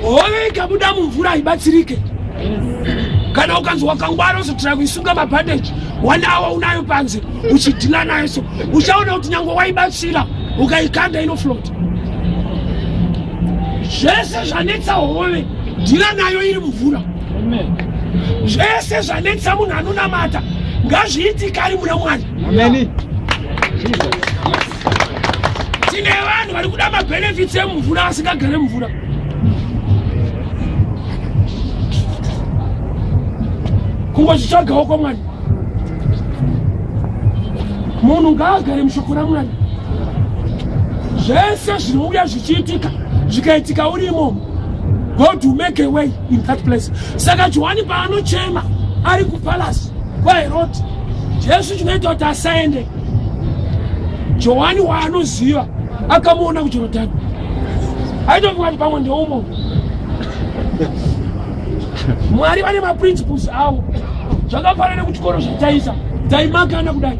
hove ikabuda mumvura haibatsirike kana ukanzi wakangwara uzotora kuisunga mabhandeji one awa unayo panze uchidhila nayo so uchaona kuti nyange waibatsira ukaikanda inoflota zvese zvanetsa hove dhila nayo iri mvura zvese zvanetsa munhu anonamata ngazviitikari muna mwari tine vanhu vari kuda mabenefits emumvura asingagare mvura kungochitsvagawo kwamwari munhu ngaagare mushoko ramwari zvese zvinouya zvichiitika zvikaitika urimo god will make a way in that place saka johani paanochema ari kupalasi kwaherodi jesu chinoita kuti asaende johani waanoziva akamuona kujorodhani aitofunga kuti pamwe ndeumo mwari vane maprinciples avo zvakafanana nekuchikoro zvataisa taimakana kudai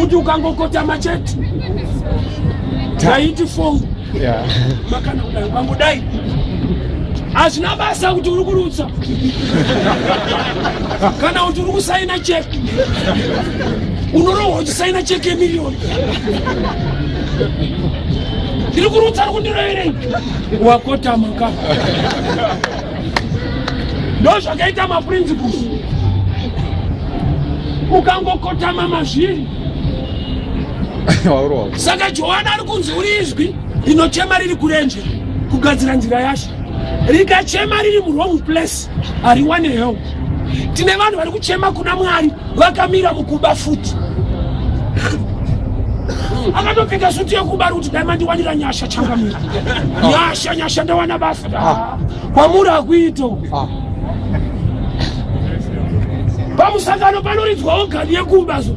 kuti ukangokotama chete taiti fong makana kudai ukangodai hazvina basa kuti uri kurutsa kana kuti uri kusaina cheki unorohwa uchisaina cheki yemiliyoni ndiri kurutsa ari kundiroverei wakotama ka ndo zvakaita maprinciples ukangokotama mazviri saka johani ari kunzi uri izwi rinochema riri kurenje kugadzira nzira yacho rikachema riri muwrong place hariwane help tine vanhu vari kuchema kuna mwari vakamira mukuba futi akatopfeka suti yekuba ri kuti dai mandiwanira nyasha changamira nyasha nyasha ndawana basa ah. kwamuri hakuito ah. pamusangano panoridzwawo gani yekuba zo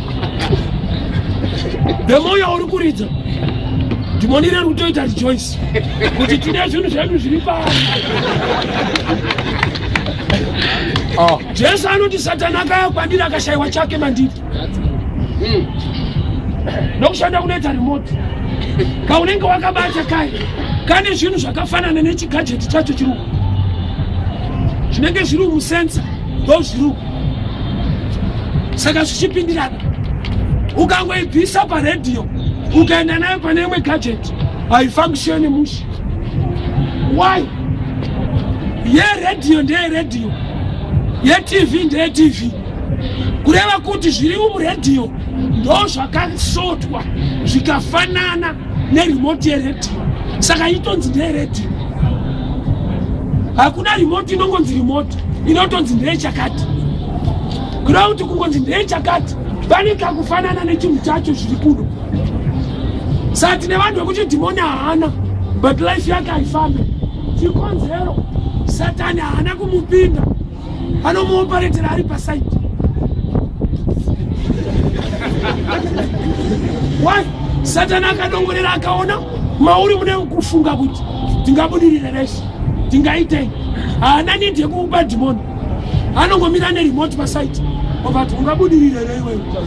the more yauri kuridza dhimoni reri kutoita rejoice kuti tine zvinhu zvedu zviri pasi ah. jesu anoti satani akaya kwandiri akashayiwa chake mandiri hmm. nokushanda kunoita remote kaunenge wakabata kai kane zvinhu zvakafanana nechigajeti chacho chiruku zvinenge zviri musensa ndozviruko saka zvichipindirana ukangoibvisa paredhiyo ukaenda nayo pane imwe gadget haifunctione mushe why yeredhiyo ndeyeredhiyo yetv ndeyetv kureva kuti zviri muredhiyo ndo zvakasotwa zvikafanana nerimoti yeredhiyo saka itonzi ndeyeredhiyo hakuna rimoti inongonzi rimoti inotonzi ndeyechakati ground kungonzi ndeyechakati pane kakufanana nechinhu chacho zviri kuno saka tine vanhu vekuti dhimoni haana but life yake haifambe chikonzero satani haana kumupinda anomuoparetera ari pasaidi why satani akadongorera akaona mauri mune kufunga kuti tingabudirire reshe tingaitei haana need yekuupa dhimoni anongomira neremote pasaiti ovati ungabudirirerei wewe